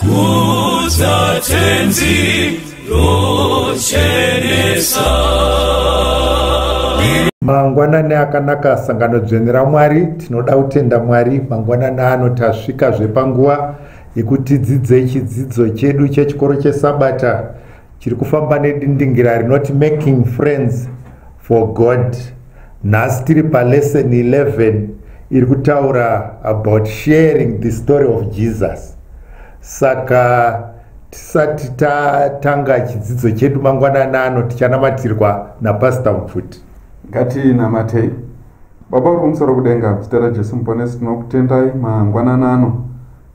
Kudza tenzi rochenesa mangwanani akanaka sangano dzvene ramwari tinoda kutenda mwari mangwanani ano tasvika zvepanguva yekuti dzidzei chidzidzo chedu chechikoro chesabata chiri kufamba nedindingira rinoti making friends for god nhasi tiri palesson 11 iri kutaura about sharing the story of jesus saka tisati tatanga chidzidzo chedu mangwanana ano tichanamatirwa napasita mupfuti ngatinamatei baba uri kumusoro kudenga zita rajesu muponesi tinokutendai mangwanana ano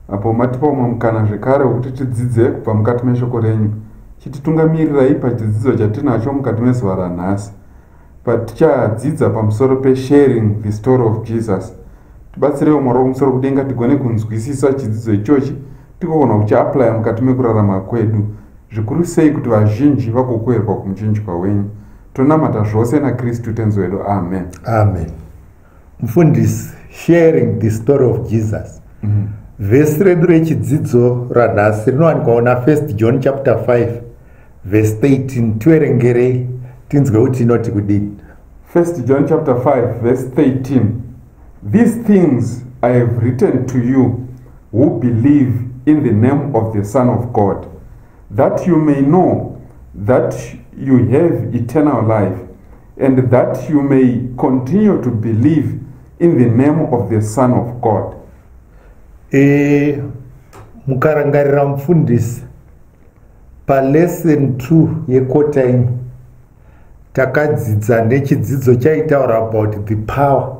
apo matipa umwe mukana zvekare wekuti tidzidze kubva mukati meshoko renyu chititungamirirai pachidzidzo chatinacho mukati mezuva ranhasi patichadzidza pamusoro pesharing the story of jesus tibatsireiwo mwari wokumusoro kudenga tigone kunzwisisa chidzidzo ichochi tigogona kuchiaplya mukati mekurarama kwedu zvikuru sei kuti vazhinji vagokoherwa kumuchinjwa wenyu tonamata zvose nakristu tenzi wedu amen amen mfundisi sharing the story of jesus mm -hmm. vhesi redu rechidzidzo ranhasi rinowanikwawo nafirst john chapter 5 vhesi 13 tiverengerei tinzwe kuti inoti kudini first john chapter 5 vhesi 13 these things i have written to you who believe in the name of the son of god that you may know that you have eternal life and that you may continue to believe in the name of the son of god e, mukarangarira mufundisi palesson 2 yekota ino takadzidza nechidzidzo chaitaura about the power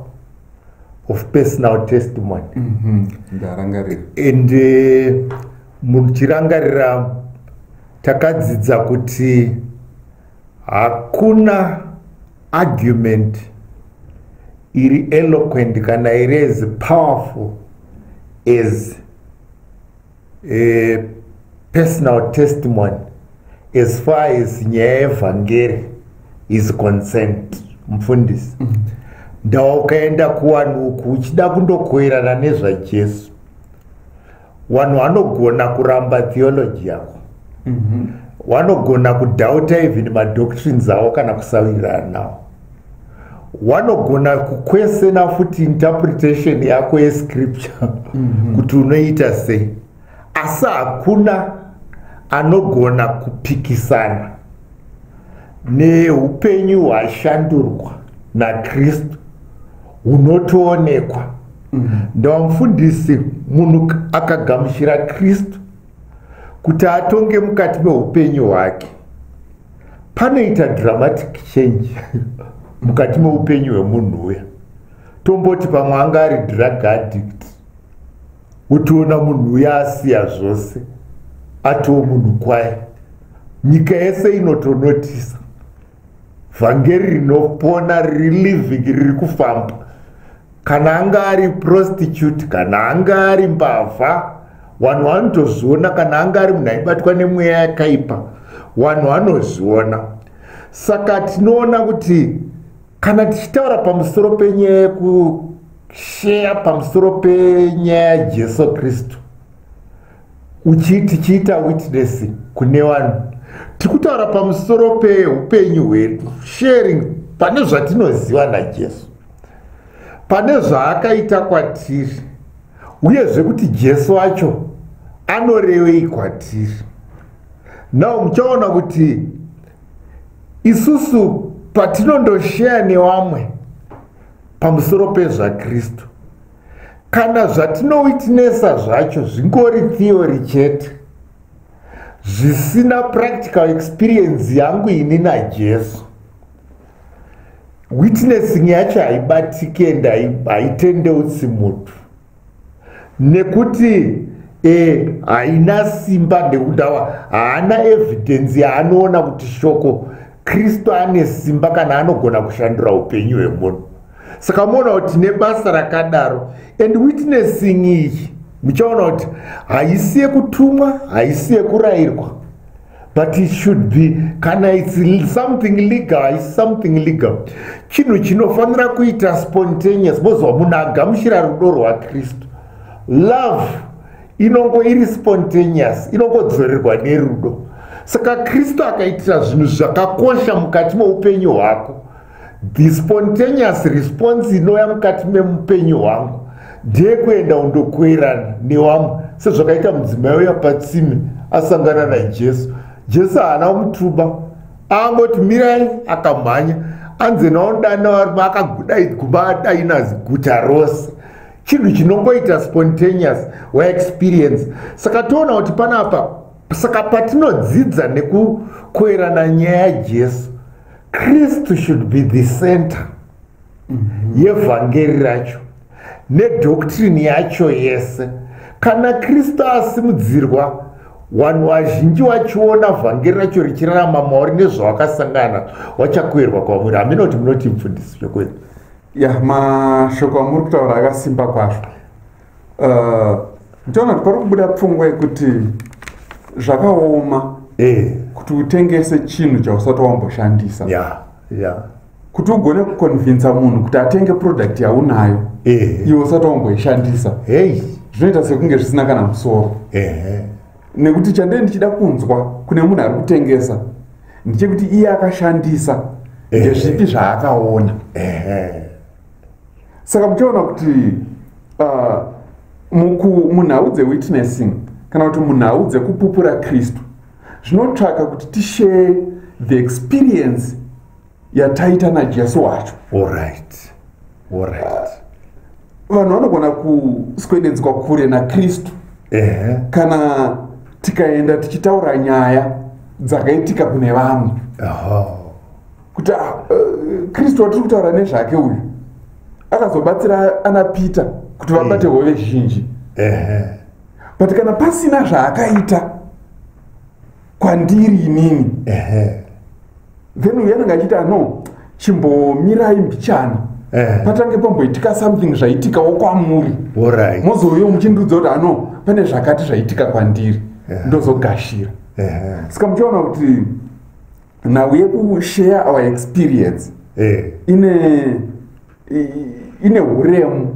of personal testimony mm -hmm. and uh, muchirangarira takadzidza kuti hakuna argument iri eloquent kana iri as powerful as a personal testimony as far as nyaya yevhangeri is concerned mfundisi mm -hmm ndawa ukaenda kuwanhu uku uchida kundokoerana nezvajesu wanhu wanogona kuramba theology yako mhm. wanogona mm -hmm. kudhauta even madoctrines avo kana kusawirirana nawo wanogona kukwesena futi interpretation yako yescripture mm -hmm. kuti unoita sei asi hakuna anogona kupikisana neupenyu hwashandurwa nakristu hunotoonekwa mm. ndamufundisi munhu akagamuchira kristu kuti atonge mukati meupenyu hwake panoita dramatic change mukati meupenyu hwemunhu uya tomboti pamwe anga ari drug addict wotoona munhu uya asiya zvose atoo munhu kwaye nyika yese inotonotisa vhangeri rinopona riri living riri kufamba kana anga ari prostitute kana anga ari mbavha vanhu vanotozviona kana anga ari munhu aibatwa nemweya yakaipa vanhu vanozviona saka tinoona kuti kana tichitaura pamusoro penyaya yekusheya pamusoro penyaya yajesu kristu uchii tichiita witness kune vanhu tiri kutaura pamusoro peupenyu hwedu sharing pane zvatinoziva najesu pane zvaakaita kwatiri uyezve kuti jesu wacho anorevei kwatiri now muchaona kuti isusu patinondosheya nevamwe pamusoro pezvakristu kana zvatinowitnesa zvacho zvingori theory chete zvisina practical experience yangu ini najesu witnessing yacho haibatike ende haitendeusi mutu nekuti eh, haina simba ndekudawa haana evidhensi yaanoona kuti shoko kristu ane simba kana anogona kushandura upenyu hwemunhu saka muona kuti nebasa rakadaro and witnessing iyi muchaona kuti haisi yekutumwa haisi yekurayirwa but it should be kana its something legal haisi something legal chinhu chinofanira kuita spontaneous mozova munhu agamuchira rudo rwakristu love inongo iri spontaneous inongodzorerwa nerudo saka kristu akaitira zvinhu zvakakosha mukati meupenyu hwako the spontaneous response inouya mukati memupenyu hwangu ndeyekuenda undokuerana newamwe sezvakaita mudzimai uya patsime asangana najesu jesu haana kumutuba angoti mirai akamhanya anzi naodana varume akaguda igumba adaina ziguta rose chinhu chinongoita spontaneous waexperience saka toona kuti panapa saka patinodzidza nekukoerana nyaya yajesu kristu should be the center mm -hmm. yevhangeri racho nedoctrine yacho yese kana kristu asimudzirwa vanhu vazhinji vachiona vhangeri racho richirarama mauri nezvavakasangana vachakuerwa kwamuri hamina kuti munoti mfundisi chokwedi ya mashoko amuri kutaura akasimba kwazvo ndiona kuti pari kubuda pfungwa yekuti zvakaoma eh. kuti utengese chinhu chausati wamboshandisa yeah, yeah. kuti ugone kukonvinsa munhu kuti atenge product yaunayo eh. iwe usati wamboishandisa hey. zvinoita sekunge zvisina kana musoro eh. nekuti chandee ndichida kunzwa kune munhu ari kutengesa ndichekuti iye akashandisa eh. ndezvipi zvaakaona eh. saka muchaona kuti uh, munhau dzewitnessing kana kuti munhau dzekupupura kristu zvinotsvaka kuti tishare the experience yataita najesu wacho orit orit ah, vanhu uh, vanogona kuswededzwa kure nakristu uh -huh. kana tikaenda tichitaura nyaya dzakaitika kune vamwe uh -huh. kuti ah, eh, kristu watiri kutaura nezvake uyu akazobatsira ana peter kuti vabate eh. hove zhinji but kana pasina zvaakaita kwandiri inini then uyu anenge achiita no chimbomirai mbichana Eh. patange pamboitika something zvaitikawo kwamuri mozouyo muchindiudza kuti ano pane zvakati zvaitika kwandiri eh. ndozogashira eh. saka muchiona kuti nhau yekushare our experience eh. ine ine uremu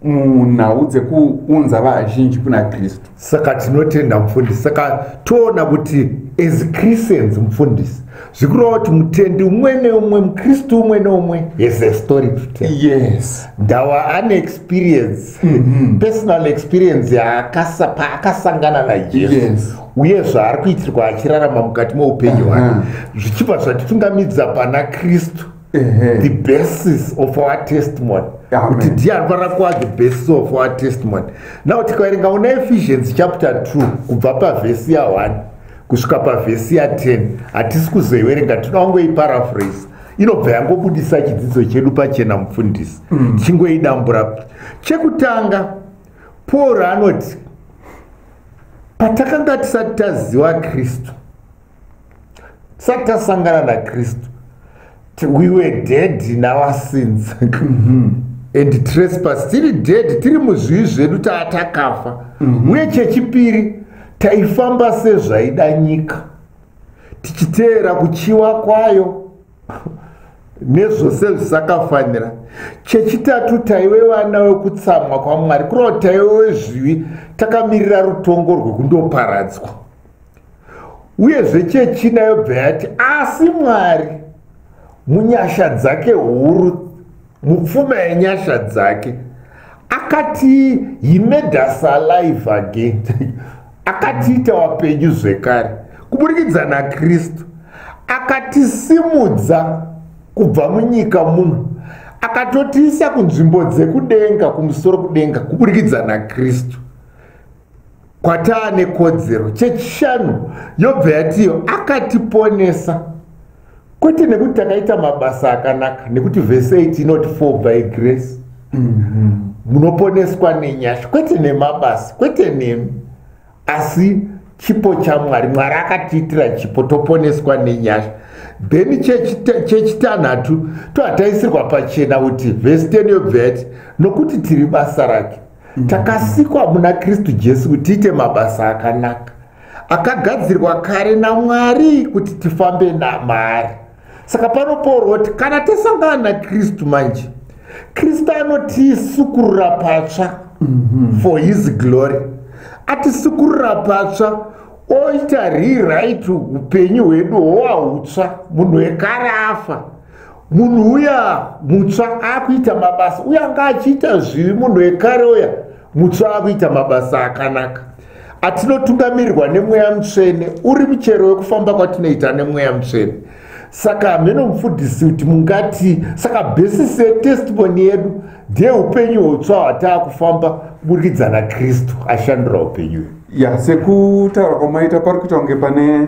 munhau dzekuunza vazhinji kuna kristu saka tinotenda mufundisi saka toona kuti as christians mufundisi zvikureva kuti mutendi umwe neumwe mukristu umwe neumwe has a story to tell yes ndawa ane experience mm -hmm. personal experience yaakasa paakasangana najesu yes. uye zvaari kuitirwa achirarama mukati meupenyu hwake zvichibva zvatitungamidza pana kristu the basis of our testimony kuti ndiye anofanira kuva the basis of our testimony now tikaverenga una efficiency chapter 2 kubva pavhesi ya 1 kusvika pavhesi ya 10 hatisi kuzoiverenga tinongo iparaphrase inobva yangobudisa chidzidzo chedu pachena mufundisi mm. tichingoidambura chekutanga paul anoti patakanga tisati taziva kristu tisati tasangana nakristu we were dead in our sins mhm. and trespass tiri dead tiri muzvivi zvedu taa takafa mhm. uye chechipiri taifamba sezvaida nyika tichiteera kuchiwa kwayo nezvose zvisakafanira chechitatu taive vana vekutsamwa kwamwari kureva kuti taive wezvivi takamirira rutongo rwekundoparadzwa uyezve chechina yobva yati asi mwari munyasha dzake huru mupfuma yenyasha dzake akati he made us alive again akatiita wapenyu zvekare kuburikidza nakristu akatisimudza kubva munyika muno akatotiisa kunzvimbo dzekudenga kumusoro kudenga kuburikidza nakristu kwataa nekodzero chechishanu yobva yatiyo akatiponesa kwete nekuti takaita mabasa akanaka nekuti vese iti inoti for by grace mhm. munoponeswa mm -hmm. nenyasha kwete nemabasa kwete nemi asi chipo chamwari mwari akatiitira chipo toponeswa nenyasha then chechitanhatu tohataisirwa pachena kuti vhesi 10 yobva yati nokuti tiri basa rake mm. takasikwa muna kristu jesu kuti tiite mabasa akanaka akagadzirwa kare namwari kuti tifambe namaari saka panopoorwa kuti kana tasangana nakristu manje kristu anotisukurura patsva mm -hmm. for his glory atisukurura patsva oita rewrite upenyu hwedu hwowahutsva munhu wekare afa munhu uya mutsva akuita mabasa uye anga achiita zvivi munhu wekare uya mutsva akuita mabasa akanaka atinotungamirirwa nemweya mutsvene uri muchero wekufamba kwatinoita nemweya mutsvene saka hameno mufundisi kuti mungati saka basis yetestimoni yedu ndeyeupenyu hweutsva hwataa kufamba kuburikidza nakristu ashandira upenyu ya sekutaura kwamaita pari kuita kunge pane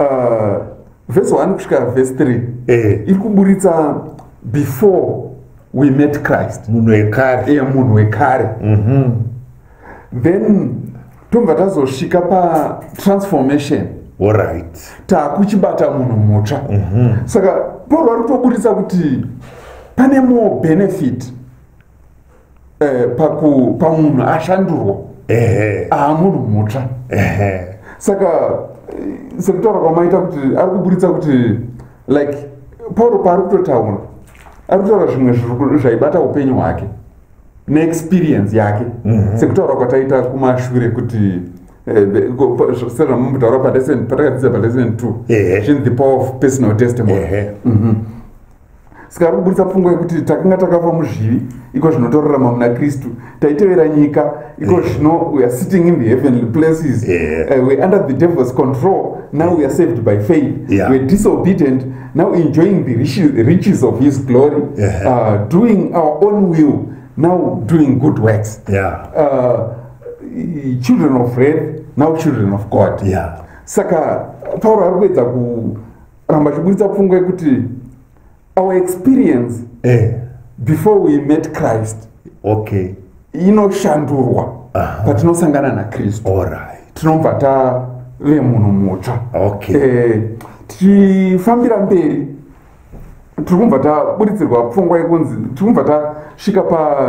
uh, vhesi 1 kusvika vhesi 3 eh. iri kuburitsa before we met christ munhu wekare e munhu wekare mm -hmm. then tobva tazosvika patransformation orit taakuchibata munhu mutsva mm -hmm. saka pauro vari kutoburitsa kuti pane more benefit eh, paku pamunhu ashandurwa ehe ah munhu mutsva ehe saka eh, sekutaura kwamaita kuti ari kuburitsa kuti like pauro paari kutotaura ari kutaura zvimwe zviri ku- zvaibata upenyu hwake neexperience yake Mhm. sekutaura kwataita kumashure kuti eh, the- ko- pa- zv- sezvamambotaura palesson patakadzidza palesson two Ehe. zvinzi the power of personal testimony ehe Mhm. saka ari kuburitsa pfungwa yekuti takanga takafa muzvivi iko zvino torarama muna kristu taitevera nyika iko zvino weare sitting in the heavenly places yeah. uh, weare under the devil's control now weare saved by faith yeah. weare disobedient now enjoying the riches of his glory yeah. uh, doing our own will now doing good works yeah. uh, children of wrath now children of god yeah. saka pauro ari kuedza ku ramba chiburitsa pfungwa yekuti our experience eh. before we met christ okay inoshandurwa patinosangana nakristu tinobva tave munhu mutsva okay. eh, tichifambira mberi tiri kubva taburitsirwa pfungwa yekunzi tiri kubva tasvika pa,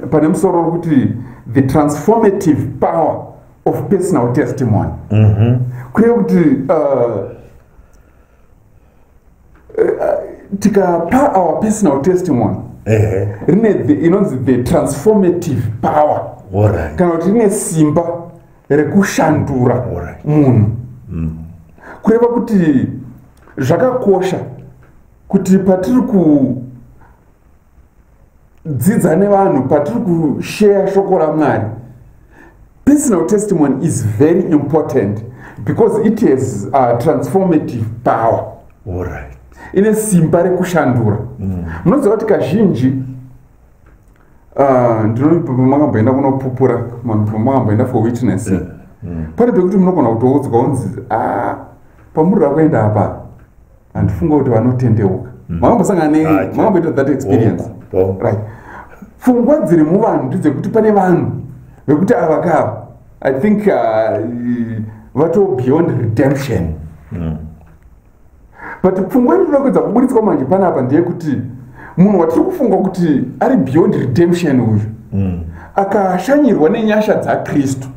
pane musoro wekuti the transformative power of personal testimony mhm. kureva kuti uh, uh, tikapa our personal testimony rine inonzi the transformative power kana kuti rine simba rekushandura munhu mm. kureva kuti zvakakosha kuti patiri ku dzidza nevanhu patiri kusheya shoko ramwari personal testimony is very important because it has uh, transformative power right. ine simba rekushandura mm. munoziva kuti kazhinji uh, ndinomakamboenda kunopupura makamboenda for witness yeah. mm. pane pekuti munogona kutoudzwa unzi ah, pamuri rakuenda apa handifunga kuti vanotendeuka mm. makambosangana ne ah, makamboita that experience oh, oh. right pfungwa dziri muvanhu ndidzekuti pane vanhu vekuti ava kava i think uh, vato beyond redemption mm. but pfungwa iri rinokuedza kuburitswa manje pane apa ndeyekuti munhu watiri kufunga kuti ari beyond redemption uyu mm. akashanyirwa nenyasha dzakristu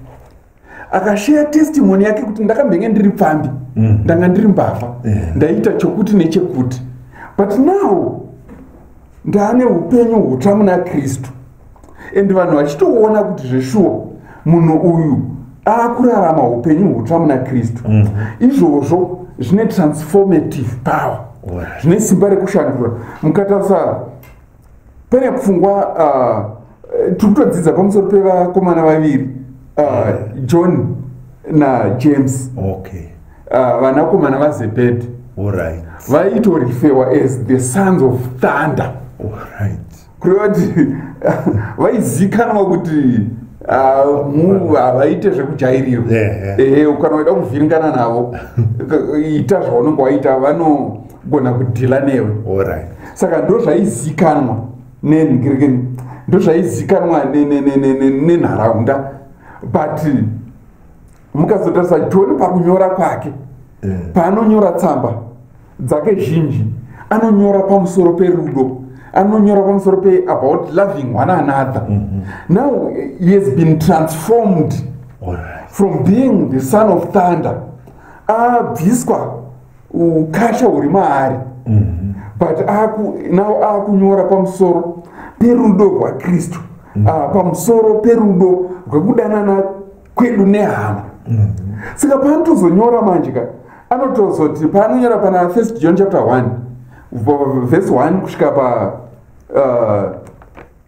akasheya testimony yake kuti ndakambenge ndiri pfambi mm. ndanga ndiri mbavha yeah. ndaiita chokuti nechekuti but now ndaane upenyu hutsva muna kristu and vanhu vachitoona kuti zveshuwa munhu uyu akurarama upenyu hutsva muna kristu mm. izvozvo zvine transformative power zvine simba rekushandura mukatarisa pane pfungwa uh, tiri kutodzidza pamusoro pevakomana vaviri uh, ah, mm. john najames okay. uh, vanakomana vazebhedhi right. vaitorifewa as the sons of thunder right. kureva kuti vaizikanwa kuti Ah, havaite zvekujairirwa ehe eh, eh, kana waida kuvhiringana navo ita zvaunenge waita vano kugona kudhila newe right. saka ndo zvaizikanwa nenhirikeni ndo zvaizikanwa nenharaunda ne, ne, ne, ne, but mukazotarisa joni pakunyora kwake yeah. paanonyora tsamba dzake zhinji anonyora pamusoro perudo anonyora pamusoro pe about loving one another mm -hmm. now he has been transformed right. from being the son of thunder abviswa uh, ukasha huri maari mhm. but nao akunyora pamusoro perudo rwakristu mhm. ah, pamusoro perudo rwekudanana kwedu nehama mhm. saka paanotozonyora manje ka anotozoti paanonyora pana first john chapter 1 vese 1 kusvika pa uh,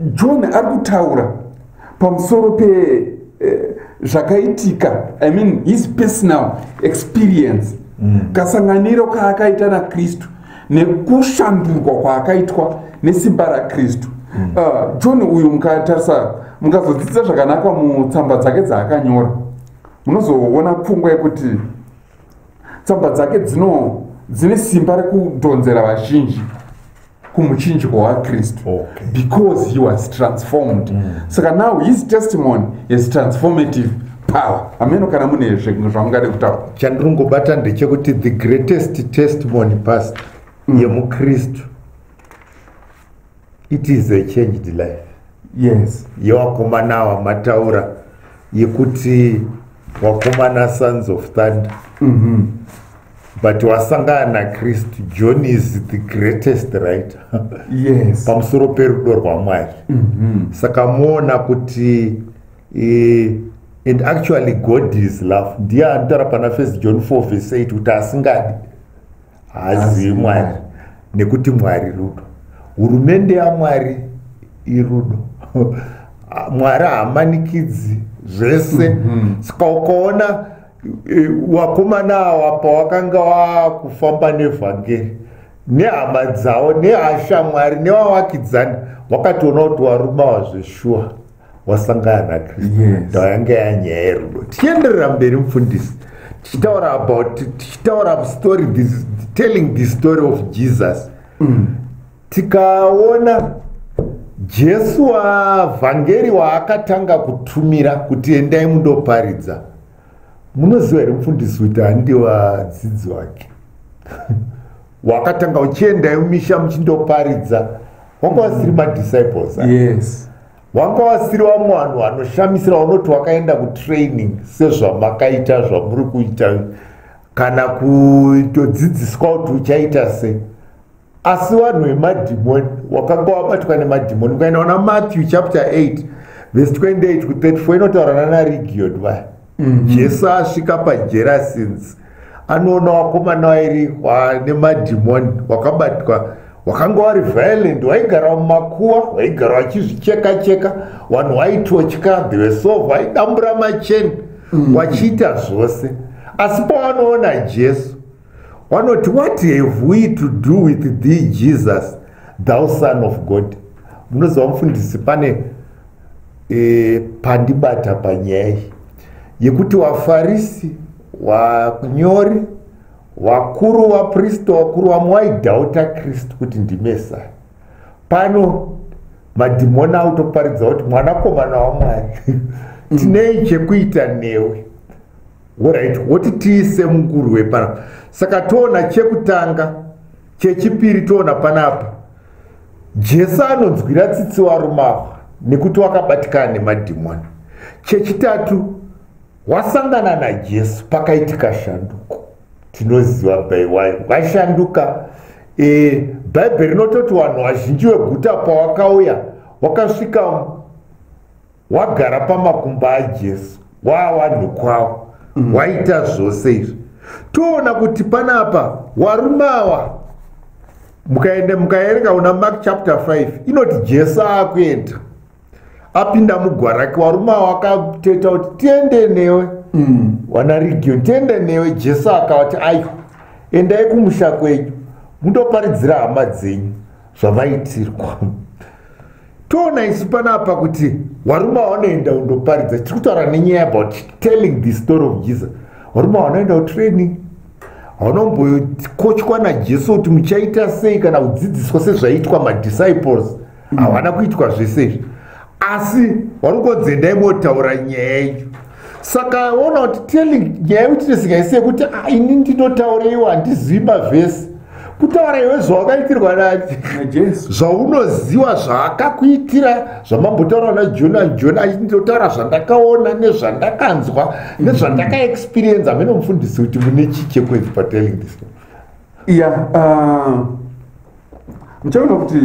john ari kutaura pamusoro pe eh, zvakaitika i mean his personal experience mm. kasanganiro kaakaita nakristu nekushandurwa kwaakaitwa nesimba rakristu mm. uh, john uyu mukatarisa mukazodzidza zvakanaka mutsamba dzake dzaakanyora munozoona pfungwa yekuti tsamba dzake dzino dzine simba rekudhonzera vazhinji kumuchinjiko wakristu okay. because he was transformed mm. saka now his testimony is transformative power ameno kana mune zvamungade kutaura chandirungobata ndechekuti the greatest testimony past mm. yemukristu it is a changed life yes yewakomana ava mataura yekuti wakomana sons of thunder mm -hmm. but wasangana nakristu john is the greatest writer yes pamusoro perudo rwamwari mm -hmm. saka muona kuti e, and actually god is love ndiye anotaura pana first john 4 vese 8 kuti asingadi haazivi mwari nekuti mwari rudo hurumende yamwari irudo mwari haamanikidzi zvese mhm. ska ukaona e, wakomana awa pawakanga wakufamba nevhangeri nehama dzavo nehashamwari nevavakidzani wakatoona kuti warumawa zveshuwa wasangana nakristu yes. ndayanga yanyaya yerudo tichienderera mberi mufundisi tichitaura about tichitaura story this, telling the story of jesus mm. tikaona jesu wavhangeri waakatanga kutumira kuti endai mundoparidza munoziva here mufundisi kuti handiwadzidzi wake wakatanga uchiendayo misha muchindoparidza wanga wasiri mm. madisciples ah? yes wanga wasiri wamwe vanhu vanoshamisira unoti wakaenda kutraining sezvamakaita zvamuri kuita kana kutodzidziswa kuti uchaita sei asi vanhu vemadhimoni wakanga wabatwa nemadhimoni ukaenda ona matthew chapter 8 vese 28 ku 34 inotaurana narigioni vaya mm-hmm. jesu asvika pajera since anoona wakomana wairi wane madhimoni wakabatwa wakanga wari violent waigara mumakuwa waigara wachizvicheka cheka vanhu waitotya dhevesova waidambura macheni mm-hmm. wachiita zvose asi pawanoona jesu wanoti what have we to do with thee jesus thou son of god munoziva mufundisi pane e, pandibata panyaya iyi yekuti wafarisi wanyori wakuru wapristo wakuru vamwe waidhauta kristu kuti ndimesaya pano madhimoni autoparidza kuti mwanakomana wamwari mm. tinei chekuita newe orit woti tiise mungurwe panapa saka toona chekutanga chechipiri toona panapa jesu anonzwira tsitsi varume ava nekuti wakabatikana nemadhimoni chechitatu wasangana najesu pakaitika shanduko tinoziva baiwai washanduka e, bhaibheri rinototi vanhu vazhinji veguta pawakauya wakasvika wagara pamakumbo ajesu waawanhu kwavo mm. waita zvose izvi toona kuti panapa warume awa mukaenda mukaerenga una mark chapter 5 inoti jesu akuenda apinda mugwa rake warume awa akateta kuti tiende newe mm. wana region tiende newe jesu akavati ayo endai kumusha kwenyu mundoparidzira hama dzenyu zvavaitirwa toona isu panapa kuti warume waunoenda undoparidza tiri kutaura nenyaya about telling the story of jesus warume waunoenda utraining haunombokochwa najesu kuti muchaita sei kana kudzidziswa sezvaiitwa madisciples mm. havana kuitwa zvese izvi asi wari kungonzi endai motaura nyaya yacho saka ona kuti telling nyaya yekuti tezika isi yekuti ah, ini ndinotaureiwa handizivi mavhesi kutaura iwe zvawakaitirwa najesu zvaunoziva zvaakakuitira zvamambotaura na joni anjoni achitotaura zvandakaona nezvandakanzwa nezvandakaexperienza amene mufundisi kuti mune chii chekwenzi patelling this ya uh, muchaona kuti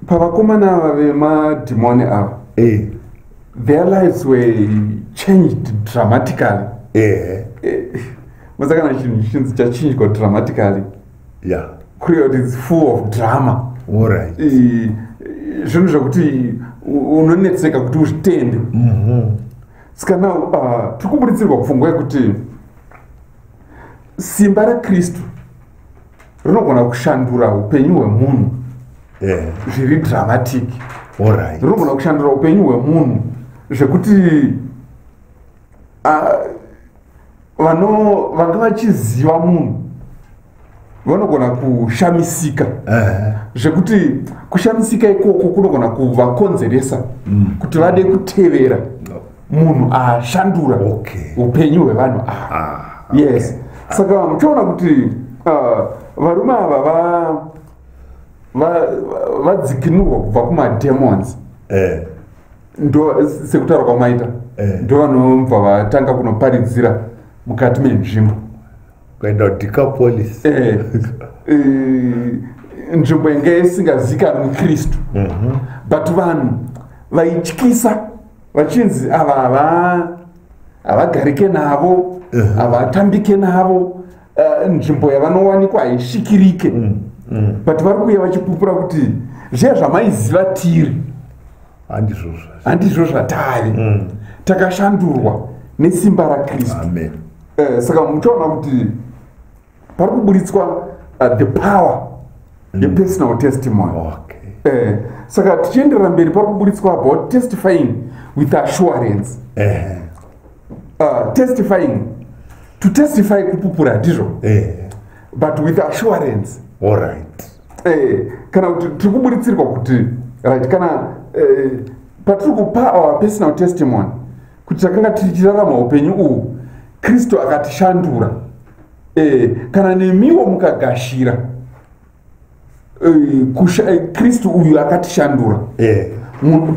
pavakomana ava vemadhimoni ava eh. their lives were changed dramatically eh. eh. masa kana chinhu chinzi chachinjwa dramatically yeah. kureva kuti its full of drama right. eh, zvinhu zvekuti unonetseka kuti uzvitende mm -hmm. ska now uh, tiri kuburitsirwa pfungwa yekuti simba rakristu rinogona kushandura upenyu hwemunhu eh. zviri dramatic rinogona kushandura upenyu hwemunhu zvekuti ah, vanga vachiziva munhu vanogona kushamisika eh. zvekuti kushamisika ikoko kunogona kuvakonzeresa mm. kuti vade kutevera munhu ashandura okay. upenyu hwevanhu ava ah, okay. yes saka muchiona kuti uh, varume ava vadzikinurwa va, va kubva kumademons eh. ndo sekutaura kwamaita eh. ndo vanobva vatanga kunoparidzira mukati menzvimbo kuenda kudecapolis eh. eh, nzvimbo inge isingazikanwi mukristu mm -hmm. but vanhu vaityisa vachinzi ava hava havagarike navo uh-huh. havatambike navo eh, nzvimbo yavanowanikwa haisvikirike mm, mm. but vari kuuya vachipupura kuti zviya zvamaiziva tiri handizvo zvatari mm. takashandurwa nesimba rakristu eh, saka muchaona kuti pari kuburitswa uh, the power mm. yepersonal testimony okay. eh, saka tichienderera mberi pari kuburitswa about testifying with assurance eh. uh, testifying to testify kupupura hatizvo eh. but with assurance all right eh, kana kuti tiri kuburitsirwa kuti right kana eh, patiri kupa our personal testimony kuti takanga tichirarama upenyu uhu kristu akatishandura e, kana nemiwo mukagashira e, kristu uyu akatishandura e.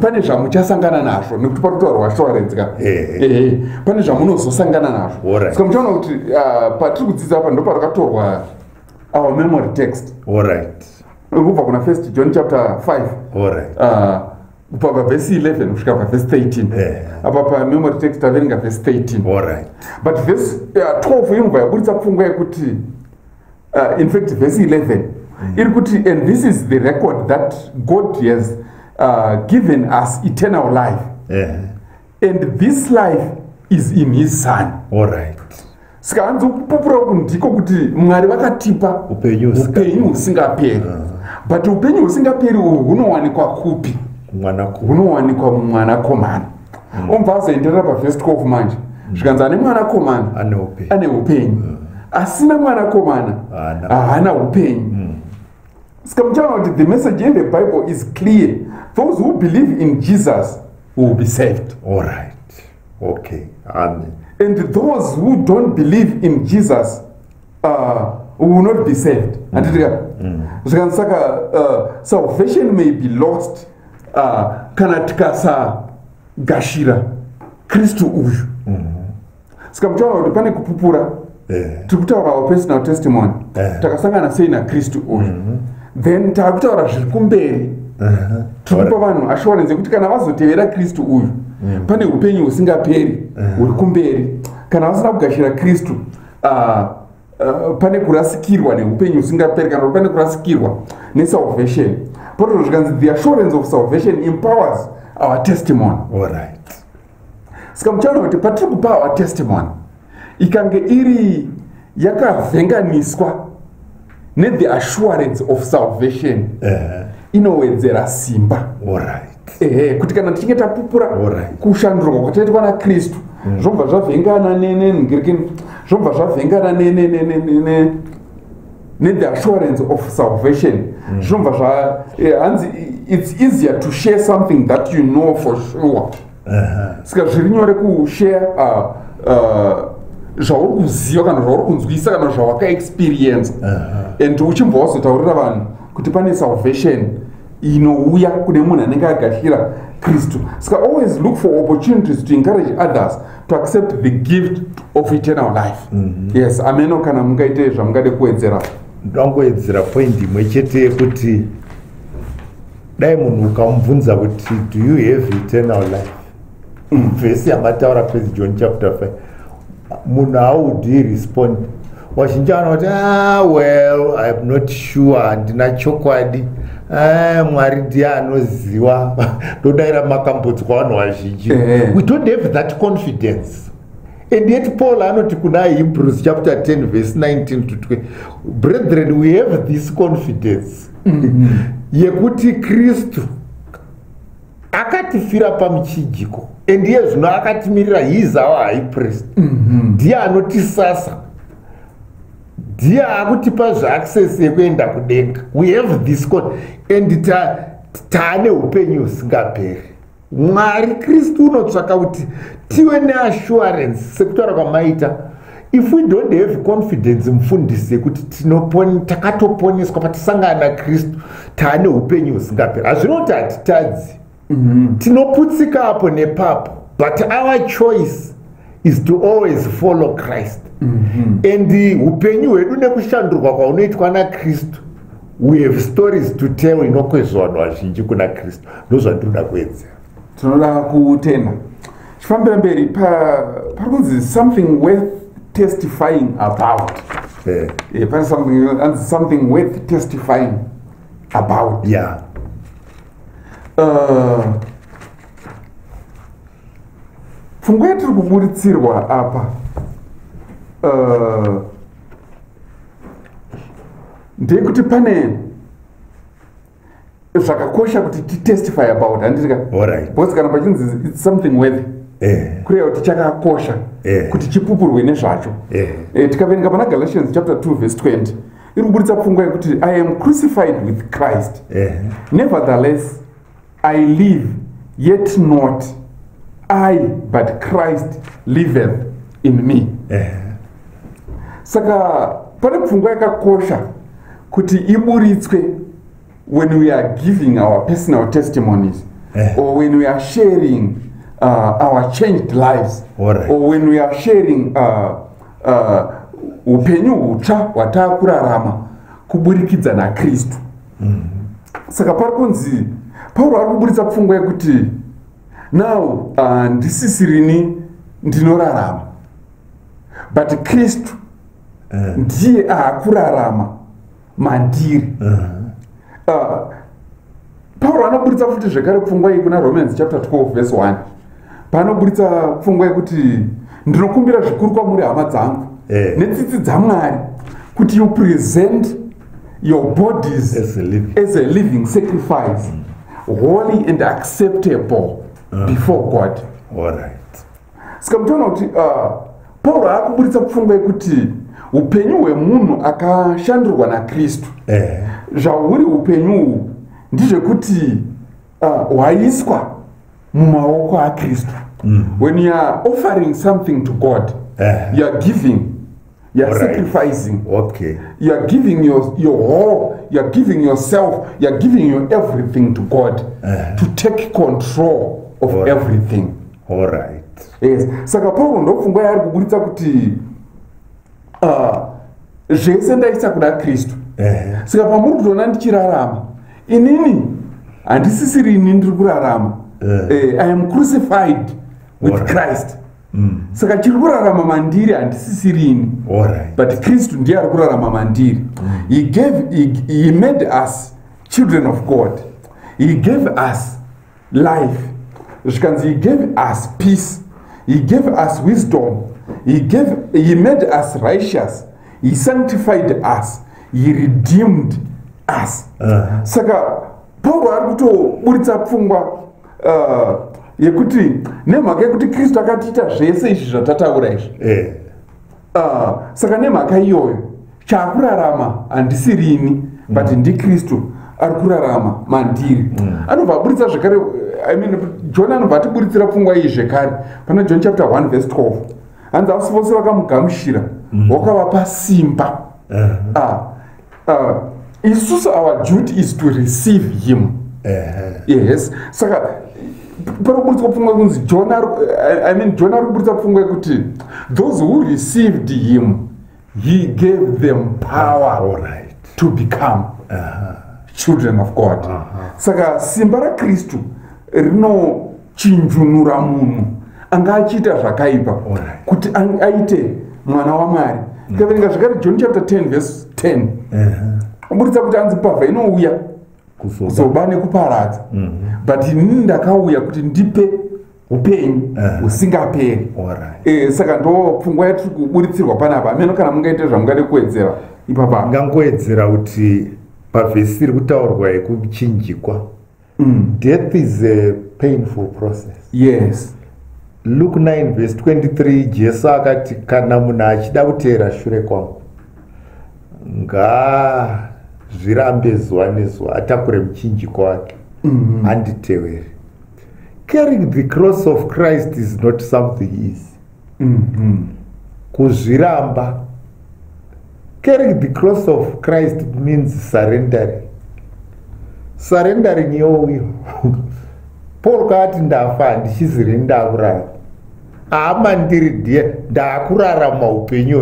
pane zvamuchasangana nazvo nekuti parutoarwa zvitoaredzika pane zvamunozosangana nazvo ska muchaona kuti ah, patiri kudzidza apa ndoparakatorwa our memory text kubva kuna first john chapter 5 All right. uh, kubva pavhesi 11 kusvika pavhesi 13 eh. apa pamemory text taverenga vhesi 13 but vhesi 12 uh, inobva yaburitsa pfungwa yekuti uh, in fact vhesi 11 mm. iri kuti and this is the record that god has uh, given us eternal life eh. and this life is in his son saka hanzi kupupura uku ndiko kuti mwari vakatipa upenyu husingaperi ah. but upenyu husingaperi uhwu hunowanikwa kupi hunowanikwa mumwanakomana mm. omva azoenderera pavest 12 manje mm. zvikanzi ane mwanakomana ane upenyu mm. asina mwanakomana haana upenyu mm. saka muchaona kuti the message in the bible is clear those who believe in jesus will be saved all right okay amen and those who don't believe in jesus uh, will not be saved handitika mm. mm. zvikanzi saka uh, salvation may be lost uh, kana tikasagashira kristu uyu mm. saka muchaona kuti pane kupupura Eh. tiri kutaura our personal testimony eh. takasangana sei nakristu uyu mhm. then tava kutaura zviri kumberi eh. tiri kupa vanhu assurance yekuti kana vazotevera kristu uyu mm. pane upenyu husingaperi huri kumberi kana vasina kugashira kristu ah, ah, pane kurasikirwa neupenyu husingaperi kana kuti pane kurasikirwa nesalvation potozvo zvikanzi the assurance of salvation empowers our testimony All right. saka muchaona kuti patiri kupawa testimony ikange iri yakavhenganiswa nethe assurance of salvation eh. inowedzera simba ehe kuti kana tichinge tapupura kushandurwa kwataitwa nakristu mm. zvobva zvavhengana nenengirikini zvobva zvavhengana nenenenene nethe assurance of salvation mm. zvinobva zva eh, hanzi its easier to share something that you know for sure saka zviri nyore kushare uh, uh, zvauri kuziva kana zvauri kunzwisa kana zvawakaexperiensa and uchimbva wazotaurira vanhu kuti pane salvation inouya kune munhu anenge agashira kristu saka always look for opportunities to encourage others to accept the gift of eternal life mm -hmm. yes ameno kana mungaite zvamungade kuwedzera ndangoedzera point imwe chete yekuti dai munhu ukamubvunza kuti do you have eternal life mm. vhesi yamataura first john chapter 5 munhu haudi respond vazhinji vanoti ah, well iam not sure handina chokwadi eh, mwari ndiye anoziva ndodaira makambodzwa vanhu vazhinji eh. we don't have that confidence and yet paul anoti kuna hebrews chapter 10 verse 19 to 20 brethren we have this confidence mm-hmm. yekuti kristu akatifira pamuchijiko and iye zvino akatimirira his our high priest mhm. ndiye mm -hmm. anotisasa ndiye akutipa zvaaccess yekuenda kudenga we have this con and taane ta upenyu husingaperi mwari kristu unotsvaka kuti tive neassurance sekutaura kwamaita if we don't have confidence mufundisi yekuti takatoponeswa patisangana nakristu taane upenyu husingaperi hazvinoti hatitadzi mm-hmm. tinoputsika apo nepapo but our choice is to always follow christ mm-hmm. and upenyu hwedu nekushandurwa kwaunoitwa nakristu we have stories to tell inokwezva vanhu vazhinji kuna kristu ndozvandinoda kuedzera tinoda kutenda chifambira mberi pari kunzi something worth testifying about eh. Eh, pane something worth testifying about yeah. uh, pfungwa yatiri kuburitsirwa apa uh, ndeyekuti pane zvakakosha kuti titestify about handiti ka right. because kana pachinzi its something worthy eh. kureva kuti chakakosha eh. kuti chipupurwe nezvacho eh. eh, tikaverenga pana galatians chapter 2 verse 20 iri kuburitsa pfungwa yekuti i am crucified with christ eh. nevertheless i live yet not i but christ liveth in me eh. saka pane pfungwa yakakosha kuti iburitswe when we are giving our personal testimonies eh. or when we are sharing uh, our changed lives right. or when we are sharing uh, uh, upenyu uh, hutsva hwataa kurarama kuburikidza nakristu mm -hmm. saka pari kunzi pauro ari kuburitsa pfungwa yekuti now uh, ndisisirini ndinorarama but kristu eh. ndiye uh. akurarama mandiri uh -huh. uh, pauro anoburitsa futi zvekare pfungwa iyi kuna romans chapter 12 verse 1 paanoburitsa pfungwa yekuti ndinokumbira zvikuru kwamuri hama dzangu eh. netsitsi dzamwari kuti you present your bodies as a living, as a living sacrifice mm. holy and acceptable uh. before god All right. saka mutoona kuti uh, pauro akuburitsa pfungwa yekuti upenyu hwemunhu akashandurwa nakristu eh. zvahuri upenyu uhu ndizvekuti uh, hwaiswa uh, mumaoko akristu mm. when youare offering something to god eh. youare giving You're right. sacrificing. Okay. You're giving your, your whole, you're giving yourself, you're giving your everything to God uh -huh. to take control of All everything. Right. All right. Yes. Saka Paul ndopfungwa yaari kuburitsa kuti uh, zvese ndaisa kuna Kristu. Uh -huh. Saka pamuri kutoona ndichirarama. Inini handisisiri ini ndiri kurarama. Uh eh, -huh. uh, I am crucified with All right. Christ. mm. saka chiri kurarama mandiri handisisirini right. but kristu ndiye ari kurarama mandiri mm. he gave he, he made us children of god he gave us life zvikanzi he gave us peace he gave us wisdom he, gave, he made us righteous he sanctified us he redeemed us uh -huh. saka pauro ari kutoburitsa pfungwa uh, yekuti nemhaka yekuti kristu akatiita zvese izvi zvatataura izvi eh. uh, saka nemhaka iyoyo chaakurarama handisirini but mm. ndikristu ari kurarama mandiri mm. anobva aburitsa zvekare I mean, john anobva atiburitsira pfungwa iyi zvekare pana john chapter 1 vese 12 hanzi asi vose vakamugamushira mm. wakavapa simba eh. ah, uh, isusu our duty is to receive him yes saka pari kuburitswa pfungwa yekunzi john i mean john ari kuburitsa pfungwa yekuti those who received him he gave them power All right. to become uh -huh. children of god uh -huh. saka simba rakristu rino chinjunura munhu anga achiita zvakaipa kuti aite mwana wamwari mm. taverenga zvakare john chapter 10 vese 10 kuburitsa kuti anzi pavha inouya kuzoba nekuparadza mhm. but inini ndakauya kuti ndipe upenyu husingaperi eh, saka ndo pfungwa yatiri kuburitsirwa panapa ameno kana mungaite zvamungade kuwedzera ipapa ngangoedzera kuti pavhesi iri kutaurwa yekuchinjikwa mm. death is a painful process yes luke 9 vhesi 23 jesu akati kana munhu achida kuteera shure kwangu ngaazvirambe zuva nezuva atakure muchinjiko wake mm-hmm. anditevere carrying the cross of christ is not something easy mm-hmm. kuzviramba Carrying the cross of Christ means surrendering. Surrendering yoyo. Paul kaati ndafa handichiziri ndakurara. Hama ndiri dear ndakurarama upenyu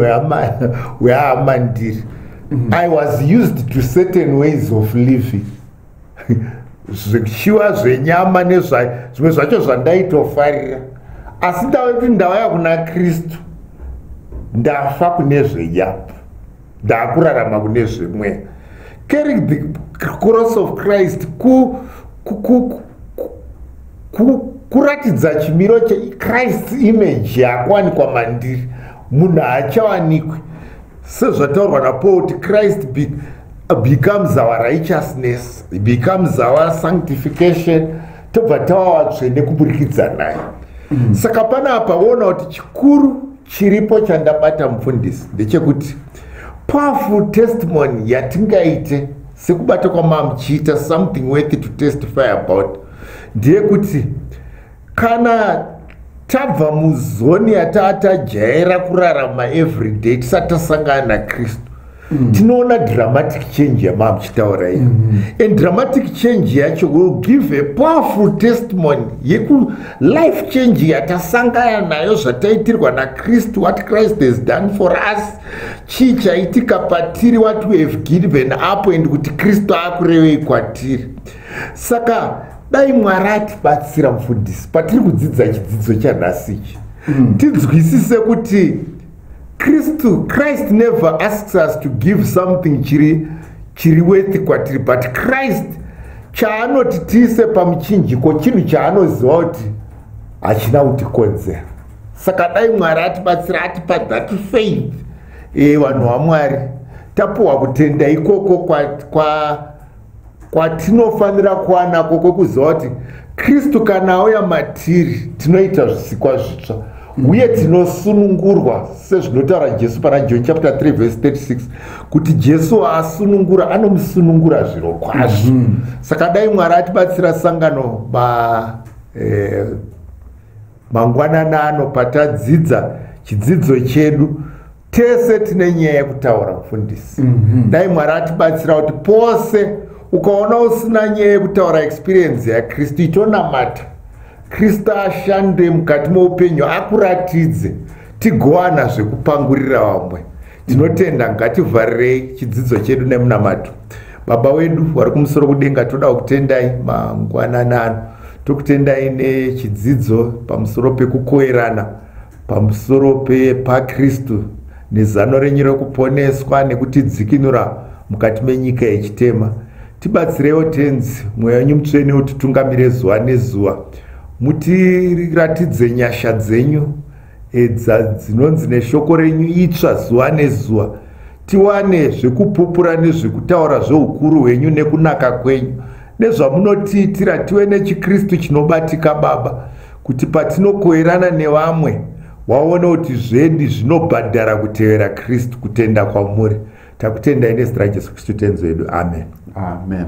hwehama ndiri. Mm-hmm. I was used to certain ways of living. zvichiwa zvenyama nezvayo zvimwe zvacho zvandaitofarira asi ndave kuti ndavaya kuna kristu ndafa kune zvenyama ndakurarama kune zvemweya carrying the cross of christ ku, ku, ku, ku, ku, ku kuratidza chimiro chechrist image yakuwanikwa mandiri munhu haachawanikwi sezvataurwa napaul kuti christ be becomes our righteousness becomes our sanctification tobva tava vatsvene kuburikidza naye mm. saka pana apa voona kuti chikuru chiripo chandabata mufundisi ndechekuti powerful testimony yatingaite sekubata kwamamuchiita something worthy to testify about ndeyekuti kana tabva muzoni yataa tajaira kurarama everyday tisati tasangana nakristu mm. tinoona dramatic change yamaa muchitaura iyo mm. and dramatic change yacho will give a powerful testimony yeku life change yatasangana nayo zvataitirwa nakristu what christ has done for us chii chaitika patiri what we have given up and kuti kristu akurevei kwatiri saka dai mwari atibatsira mufundisi patiri kudzidza chidzidzo chanhasi ichi mm. tinzwisise kuti kristu christ never asks us to give something chiri chiri wethi kwatiri but christ chaanoti tiise pamuchinjiko chinhu chaanoziva kuti hachina kutikonzera saka dai mwari atibatsira atipa that faith e vanhu vamwari tapuwa kutenda ikoko kwa, kwa kwatinofanira kuva nako kwokuziva kuti kristu kana auya matiri tinoita zvisikwa zvitsva uye tinosunungurwa sezvinotaura jesu pana john chapter 3 vese 36 kuti jesu waasunungura anomusunungura zviro kwazvo mm -hmm. saka dai mwari atibatsira sangano ba eh, mangwanana ano patadzidza chidzidzo chedu tese tine nyaya yekutaura mufundisi mhm. dai mwari atibatsira kuti pose ukaona usina nyaya yekutaura experience yakristu itonamata kristu ashande mukati moupenyu akuratidze tigowana zvekupangurira vamwe tinotenda ngativharirei chidzidzo chedu nemunamato baba wedu vari kumusoro kudenga toda kutendai mangwananano tokutendai nechidzidzo pamusoro pekukoerana pamusoro pepaKristu nezano renyu rekuponeswa nekutidzikinura mukati menyika yechitema tibatsireiwo tenzi mweya wenyu mutsvene utitungamire zuva nezuva mutiratidze nyasha dzenyu edza dzinonzi neshoko renyu itsva zuva nezuva tiwane zvekupupura nezvekutaura zveukuru hwenyu nekunaka kwenyu nezvamunotiitira tive nechikristu chinobatika baba kuti patinokoirana nevamwe waona kuti zvedi zvinobhadhara kutevera kristu kutenda kwamuri takutendai nezita rajesu kristu tenzi wedu amen amen